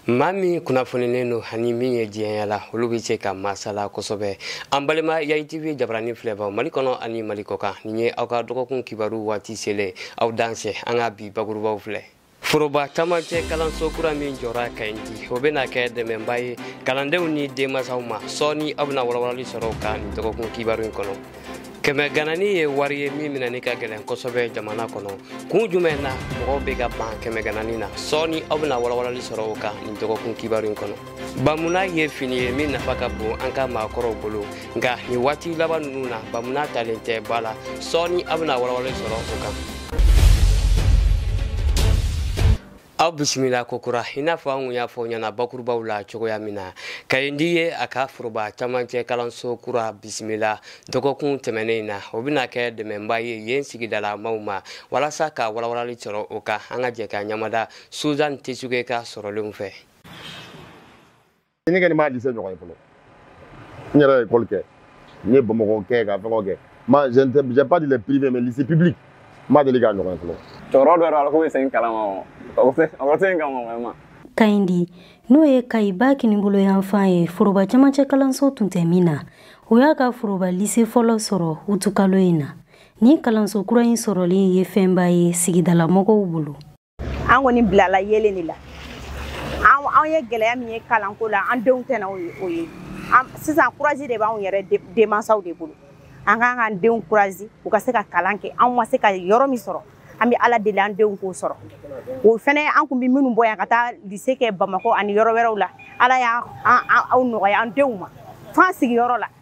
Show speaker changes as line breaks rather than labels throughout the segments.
maa min kunnafonilen don ani min ye diɲɛ yaala olu bɛ se ka masala kosɛbɛ an balima yayi tv jabarani filɛbaw mali kɔnɔ ani mali kɔkan nin ye aw ka dɔgɔkun kibaru waati selen aw dansɛ an ka bi bakurubaw filɛ foroba camancɛ kalanso kura min jɔra kayindi o bɛna kɛ dɛmɛba ye kalandenw ni denmasaw ma sɔɔni aw bɛna walawalali sɔrɔ o kan nin dɔgɔkun kibaru in kɔnɔ kɛmɛ ganani ye wari ye min minɛni ka gɛlɛn kosɛbɛ jamana kɔnɔ kun jumɛn na mɔgɔw bɛ ka ban kɛmɛ ganani na sɔɔni aw bɛna walawalali sɔrɔ o kan nin dɔgɔkun kibaru in kɔnɔ bamuna ye fini ye min nafa ka bon an ka maakɔrɔw bolo nka nin waati laban ninnu na bamuna talen tɛ ba la sɔɔni aw bɛna walawalali sɔrɔ o kan aw bisimila kokura i n'a fɔ an kun y'a fɔ ɲɛna bakurubaw la cogoya min na kayindi ye a ka foroba camancɛ kalanso kura bisimila dɔgɔkun tɛmɛnen in na o bɛna kɛ dɛmɛba ye yen sigidalamaaw ma walasa ka walawalali sɔrɔ o kan an ka jɛ ka ɲamada suzan tesuge ka sɔrɔlenw fɛ
ne kɔni m'a lise ɲɔgɔn ye fɔlɔ n yɛrɛ ye ekɔli kɛ n ye bamakɔ kɛ ka fɛngɛ kɛ ma j'ai pas dit les privés mais lycée public n ma deli k'a ɲɔgɔn ye fɔlɔ cɛkɔrɔba dɔ yɛrɛ ala ko bɛ
segin kalama o tɛ segin kama vraiment
kayindi n'o ye kayiba kinibolo yanfan ye foroba camancɛ kalanso tun tɛ min na o y'a ka foroba lise fɔlɔ sɔrɔ utukalo in na nin kalanso kura in sɔrɔli ye fɛnba ye sigidalamɔgɔw bolo an
kɔni bilala yeelen de la an ye gɛlɛya min ye kalanko la an denw tɛna o ye sisan kurazi de b'anw yɛrɛ denmansaw de bolo an kan k'an denw kurazi u ka se ka kalan kɛ anw ma se ka yɔrɔ min sɔrɔ an bɛ ala deli an denw k'o sɔrɔ o fɛnɛ an kun bɛ minnu bɔ yan ka taa lise kɛ bamakɔ ani yɔrɔ wɛrɛw la ala y'o nɔgɔya an denw ma f'an sigiyɔrɔ la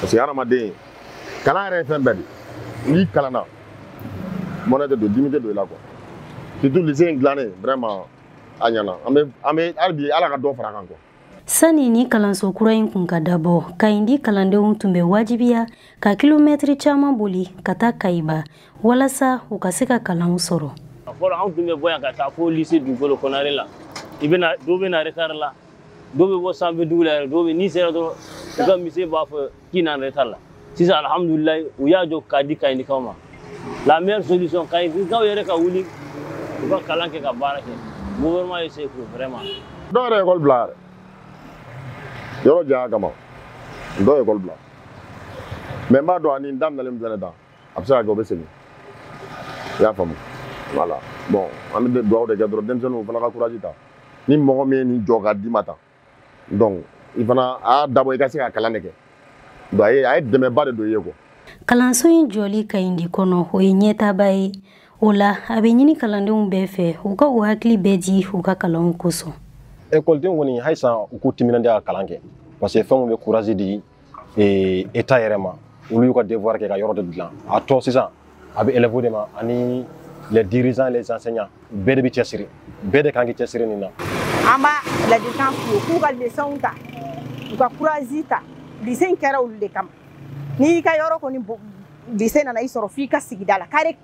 parce que hadamaden kalan yɛrɛ ye fɛn bɛɛ de n'i kalanna mɔnɛ tɛ don dimi tɛ don i la quoi surtout lycée in dilannen vraiment a ɲana an bɛ an bɛ hali bi ala ka dɔ fara kan quoi Sani
nin kalanso kura in kun ka dabɔ, Kayindi kalandenw tun bɛ wajibiya ka kilomɛtiri caman boli ka taa Kayiba walasa u ka se ka kalanw sɔrɔ. A fɔlɔ anw tun bɛ bɔ
yan ka taa fo lycée dugukolo kɔnare la. I bɛna dɔw bɛ na retard la. dɔw bɛ bɔ sanfɛ dugu la yɛrɛ dɔw bɛ n'i sera dɔrɔn u ka monsieur b'a fɔ k'i nana retard la sisan alhamdulilayi u y'a jɔ k'a di kayindikaw ma la meilleure solution kayindikaw yɛrɛ ka wuli u ka kalan kɛ ka baara kɛ gouvernement ye se k'u vraiment dɔw yɛrɛ ekɔli
bila yɛrɛ yɔrɔ janya kama dɔw ye ekɔli bila mais n b'a dɔn ani n daminɛlen fɛnɛ dan a bɛ se ka kɛ o bɛ segin i y'a faamu voilà bon an bɛ dugawu de kɛ dɔrɔn denmisɛnninw fana ka courage ta ni mɔgɔ min ye nin jɔ ka d'i ma tan donc i fana a y'a dabɔ i ka se ka kalan de kɛ donc a ye a ye dɛmɛba de don i ye quoi kalanso
in jɔli kaɲidi kɔnɔ o ye ɲɛtaaba ye o la a bɛ ɲini kalandenw bɛɛ fɛ u ka u hakili bɛɛ di u ka kalanw kosɔn ekɔlidenw kɔni
halisa u k'u timinandiya ka kalan kɛ parce que fɛnw bɛ courage di ee état yɛrɛ ma olu y'u ka devoir kɛ ka yɔrɔ de dilan a tɔ sisan a bɛ élèves de ma ani les dirigeants et les enseignants bɛɛ de bɛ cɛsiri bɛɛ de kan k'i cɛsiri nin na an
b'a ladilikan f'u ye k'u ka leçonw ta u ka courage ta lycée in kɛra olu de kama n'i ka yɔrɔ kɔni lycée nana i sɔrɔ f'i ka sigida la kare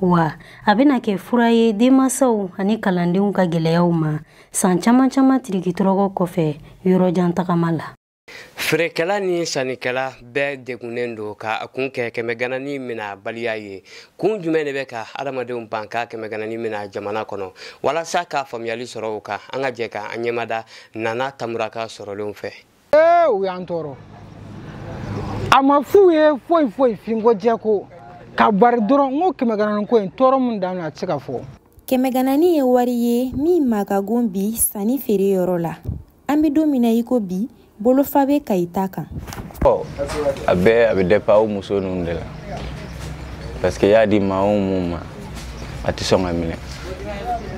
wa a bɛna kɛ fura ye denmansaw ani kalandenw ka gɛlɛyaw ma san caman caman tirikitɔrɔgɔ kɔfɛ yɔrɔjan tagama la feerekɛla
ni sannikɛla bɛɛ degunnen don ka a kun kɛ kɛmɛganani mina baliya ye kun jumɛn de bɛ ka adamadenw ban ka kɛmɛganani mina jamana kɔnɔ walasa ka faamuyali sɔrɔ o kan an ka jɛ ka an ɲɛmada nana tambura ka sɔrɔlenw fɛ ee u
y'an tɔɔrɔ a ma f'u ye foyi foyi finko jɛko ka bari dɔrɔn n ko kɛmɛganani ko in tɔɔrɔ min dan a tɛ se ka fɔ kɛmɛganani ye
wari ye min ma ka gon bi sanni feere yɔrɔ la an bɛ don min na i ko bi bolofa bɛ kayita
kan ɔ a bɛɛ a bɛ
dépend
aw muso ninnu de la
parce que y'a di maa o mun ma a tɛ sɔn ka minɛ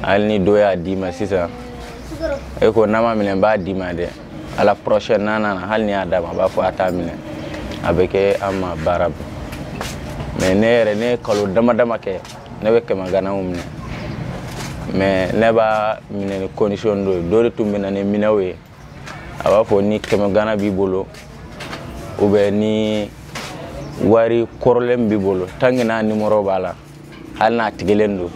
hali ni dɔ y'a d'i ma sisan e ko n'a ma minɛ n b'a d'i ma dɛ à la prochaine n'a nana hali ni y'a d'a ma a b'a fɔ a t'a minɛ a bɛ kɛ an ma baara bon mais ne yɛrɛ ne ye kalo dama dama kɛ ne bɛ kɛmɛ ganaw minɛ mais ne b'a minɛ ni condition dɔ ye dɔ de tun bɛ na ni minɛw ye a b'a fɔ ni kɛmɛ gana b'i bolo ou bien ni wari kɔrɔlen b'i bolo tant que n'a numéro b'a la hali n'a tigɛlen don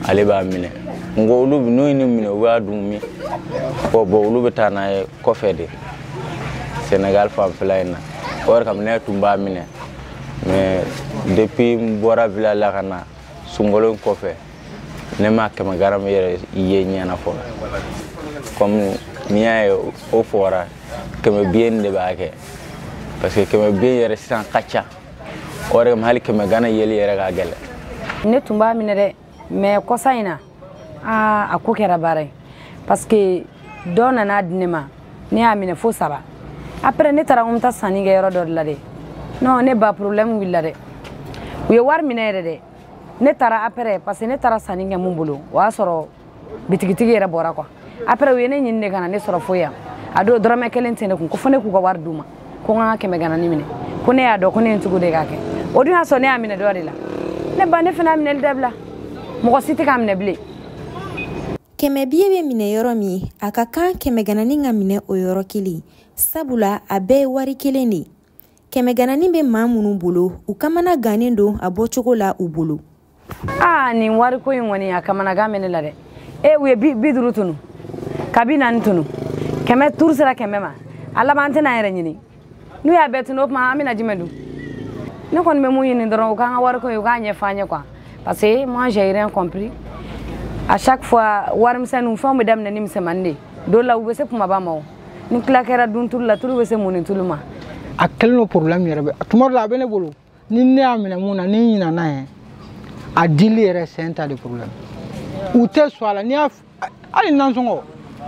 ale b'a minɛ nka olu n'u ye nin minɛ u b'a dun min ɔ bon olu bɛ taa n'a ye kɔfɛ de senegal fanfɛla in na o yɛrɛ kama ne tun b'a minɛ mais depuis n bɔra village la ka na sunkalo in kɔfɛ ne ma kɛmɛ gana yɛrɛ ye ɲɛ na fɔlɔ comme n'i y'a ye o fɔra kɛmɛ billet de b'a kɛ parce que kɛmɛ billet yɛrɛ sisan ka ca o yɛrɛ kama hali kɛmɛ gana yeli yɛrɛ ka gɛlɛn ne tun b'a minɛ
dɛ mais kɔsa in na aa a ko kɛra baara ye parce que dɔ nana di ne ma ne y'a minɛ fo saba après ne taara ko n bɛ taa sanni kɛ yɔrɔ dɔ de la dɛ non ne ba problème wulila dɛ u ye wari minɛ yɛrɛ dɛ ne taara après parce que ne taara sanni kɛ mun bolo o y'a sɔrɔ bitigitigi yɛrɛ bɔra quoi après u ye ne ɲini de ka na ne sɔrɔ fo yan a don dɔrɔmɛ kelen tɛ ne kun ko fo ne k'u ka wari d'u ma ko n ka kɛmɛ gananin minɛ ko ne y'a dɔn ko ne ye n tugu de k'a kɛ o dun y'a sɔrɔ ne y'a minɛ dɔ de la ne ba ne fana y'a minɛli dabila mɔgɔ si tɛ k'a minɛ
bilen kɛmɛ biye bɛ minɛ yɔrɔ min a ka kan kɛmɛ gananin ka minɛ o yɔrɔ kelen sabula a bɛɛ ye wari kelen de ye kɛmɛgananin bɛ maa minnu bolo u kamana gannen don a bɔcogo la u bolo aa ah,
nin wariko in kɔni a kamanagan bɛ ne la dɛ e u ye bi duuru tunu ka bi naani tunu kɛmɛ tour sera kɛmɛ ma a laban an tɛna yɛrɛ ɲini n'u y'a bɛɛ tunu o tuma an bɛna jumɛn dun ne kɔni bɛ min ɲini dɔrɔn u k'an ka wariko in u k'a ɲɛfɔ an ye quoi parce que moi j'ai rien compris à chaque fois warimisɛnninw fɛnw bɛ daminɛ ni misɛnmanin de ye dɔw la u bɛ se kunbaba ma o ni tila kɛra duntulu la tulu bɛ se munnitulu ma a kɛlen
don problème yɛrɛ ye tuma dɔ la a bɛ ne bolo ni ne y'a minɛ min na ni n ɲinana yɛrɛ a dili yɛrɛ c'est un tas de problème u tɛ sɔn a la n'i y'a hali nansɔngɔ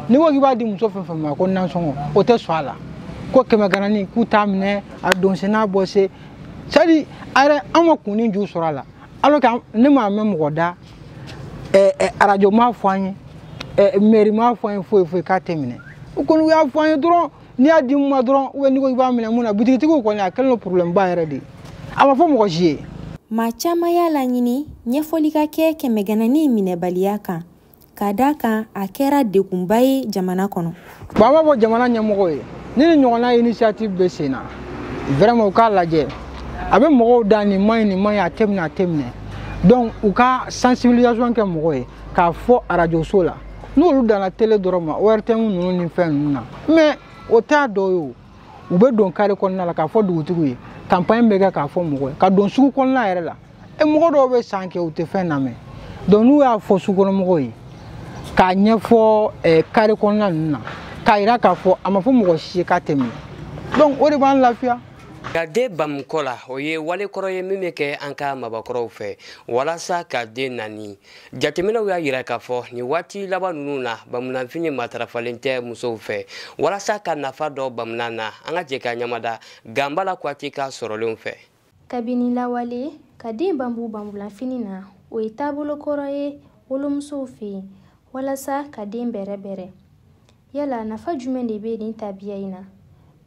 n'i ko k'i b'a di muso fɛn fɛn ma ko nansɔngɔ o tɛ sɔn a la ko kɛmɛ gananin k'u t'a minɛ a donsen n'a bɔsen c'est à dire a yɛrɛ an ma kun ni ju sɔrɔ a la alors que ne m'a mɛn mɔgɔ da ɛ ɛ arajo m'a fɔ an ye ɛ mɛri m'a fɔ an ye foyi foyi k'a tɛ minɛ u kɔni u y'a fɔ an ye dɔrɔn n'i y'a di min ma dɔrɔn ou bien n'i ko i b'a minɛ min na bitigitigiw kɔni a kɛlen don problème ba yɛrɛ de ye a ma fɔ mɔgɔ si ye maa caman
y'a laɲini ɲɛfɔli ka kɛ kɛmɛgananin minɛbaliya kan ka d'a kan a kɛra degunba ye jamana kɔnɔ bon an b'a fɔ
jamana ɲɛmɔgɔw ye ni nin ɲɔgɔnna initiative bɛ sen na vraiment u k'a lajɛ a bɛ mɔgɔw da nin man ɲi nin man ɲi a tɛ minɛ a tɛ minɛ donc u ka sensibilisation kɛ mɔgɔw ye k'a fɔ arajoso la n'olu danna tele dɔrɔn ma ortm ninnu ni fɛn ninnu na mais o t'a dɔ ye o u bɛ don kare kɔnɔna la k'a fɔ dugutigiw ye campagne bɛ kɛ k'a fɔ mɔgɔw ye ka don sugu kɔnɔna yɛrɛ la e mɔgɔ dɔw bɛ san kɛ u tɛ fɛn lamɛn donc n'u y'a fɔ sugukɔnɔmɔgɔw ye k'a ɲɛfɔ eh, kare kɔnɔna ninnu na k'a yira k'a fɔ a ma fɔ mɔgɔ si ye k'a tɛ minɛ donc o de b'an lafiya ka den
bamu kɔ la o ye wale kɔrɔ ye min bɛ kɛ an ka mabakɔrɔw fɛ walasa ka den nani jateminɛw y'a yira k'a fɔ nin waati laban ninnu na bamunanfini matarafalen tɛ musow fɛ walasa ka nafa dɔn bamunan na an ka jɛ k'an ɲɛmada ganbala kuyate ka sɔrɔlenw fɛ kabini
lawale ka den banbu banbulanfini na o ye taabolo kɔrɔ ye wolomusow fɛ yen walasa ka den bɛrɛbɛrɛ yala nafa jumɛn de bɛ nin tabiya in na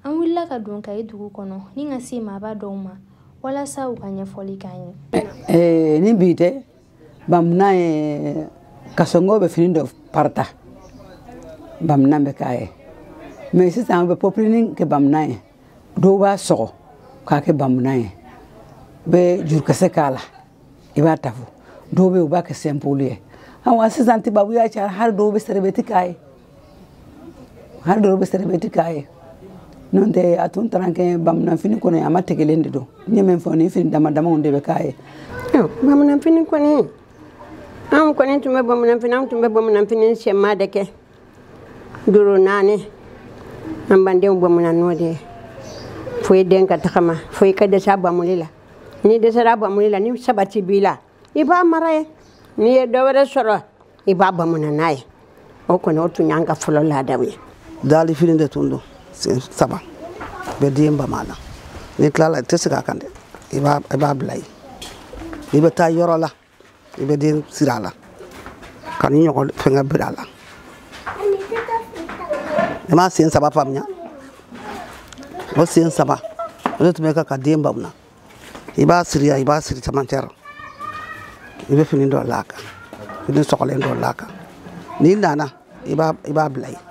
an wulila ka don kayi dugu kɔnɔ ni ka se maaba dɔw ma walasa u ka ɲɛfɔli k'an ye eh, ni bi
tɛ bamunan ye kasɔngɔ bɛ fini dɔ parata bamunan bɛ k'a ye mais sisan u bɛ pɔpilini kɛ bamunan ye dɔw b'a sɔgɔ k'a kɛ bamunan ye u bɛ jurukisɛ k'a la i b'a tafo dɔw bɛ yen u b'a kɛ sɛnpoli ye awa sisan tubabuya cayara hali dɔw bɛ sɛrɛbɛti k'a ye hali dɔw bɛ sɛrɛbɛti k'a ye n'o tɛ a tun taara kɛ bamananfini kɔnɔ a ma tigɛlen de don n ye min fɔ nin fini dama damaw de bɛ k'a ye bamananfini
kɔni anw kɔni tun bɛ bamananfini anw tun bɛ bamananfini sɛma de kɛ duuru naani an b'an denw bamuna n'o de ye fo i den ka tagama fo i ka dɛsɛ a bamuli la n'i dɛsɛra a bamuli la ni sabati b'i la i b'a mara yen n'i ye dɔ wɛrɛ sɔrɔ i b'a bamuna n'a ye o kɔni o tun y'an ka fɔlɔ laadaw ye daali fini
de tun don sen saba bɛ den bama na n'i tilala i tɛ sigi a kan dɛ i b'a bila yen i bɛ taa yɔrɔ la i bɛ den siri a la ka nin ɲɔgɔn fɛngɛ biri a la i m'a sen saba faamuya o sen saba o de tun bɛ kɛ ka den bamuna i b'a siri yan i b'a siri camancɛ la i bɛ fini dɔ la a kan fini sɔgɔlen dɔ la a kan n'i nana i b'a bila yen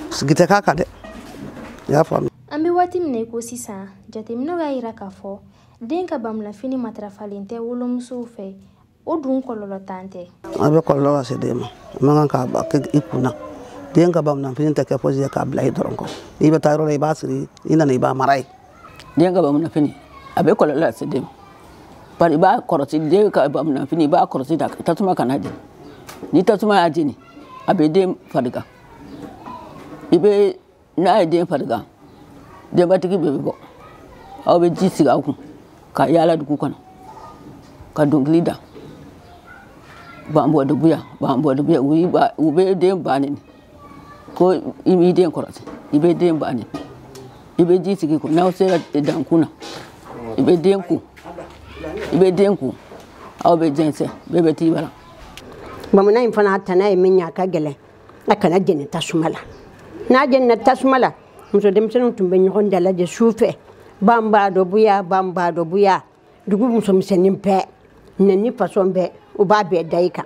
sigi tɛ k'a kan dɛ i y'a faamuya an bɛ waati min na i ko
sisan jateminɛw y'a jira k'a fɔ den ka bamulafini matarafalen tɛ wolomusow fɛ o dun kɔlɔlɔntan tɛ a bɛ kɔlɔlɔ
lase den ma a man kan k'a kɛ i kun na den ka bamunafini tɛ kɛ fosi ye k'a bila yen dɔrɔn ko i bɛ taa yɔrɔ la i b'a siri i nana i b'a mara yen den ka
bamunafini a bɛ kɔlɔlɔ lase den ma bari i b'a kɔrɔsi den ka bamunafini i b'a kɔrɔsi dɛ tasuma kan'a jeni ni tasuma y'a jeni a bɛ den farigan i bɛ n'a ye den farigan denbatigi bɛɛ bɛ bɔ aw bɛ ji sigi aw kun ka yaala dugu kɔnɔ ka dɔnkili da b'an bɔ dugu yan b'an bɔ dugu yan u bɛ den ba neni ko i m'i den kɔrɔsi i bɛ den ba neni i bɛ ji sigi kun n'aw sera dankun na i bɛ den ko i bɛ den ko aw bɛ jɛnsɛn bɛɛ bɛ t'i bara bamunan
in fana tana ye min ye a ka gɛlɛn a kana jeni tasuma la n'a jenina tasuma la muso denmisɛnninw tun bɛ ɲɔgɔn dalajɛ su fɛ ban b'a dɔ buya ban b'a dɔ buya dugu musomisɛnnin bɛɛ neni fasɔn bɛɛ u b'a bɛɛ da i kan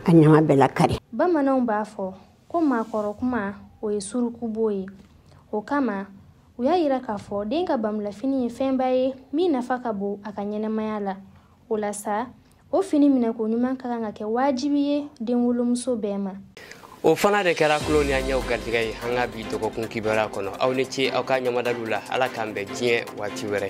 a ɲama bɛ lakari bamananw b'a
fɔ ko maakɔrɔ kuma o ye surukubo ye o kama u y'a yira k'a fɔ den ka bamulafini ye fɛnba ye min nafa ka bon a ka ɲɛnɛmaya la o la sa o fini minɛko ɲuman ka kan ka kɛ wajibi ye denwolomuso bɛɛ ma o fana
de kɛra tulo ni an ɲɛw garijɛgɛ ye an ka bi dɔgɔkun kibaruya kɔnɔ aw ni ce aw ka ɲamadaliw la ala k'an bɛn diɲɛ waati wɛrɛ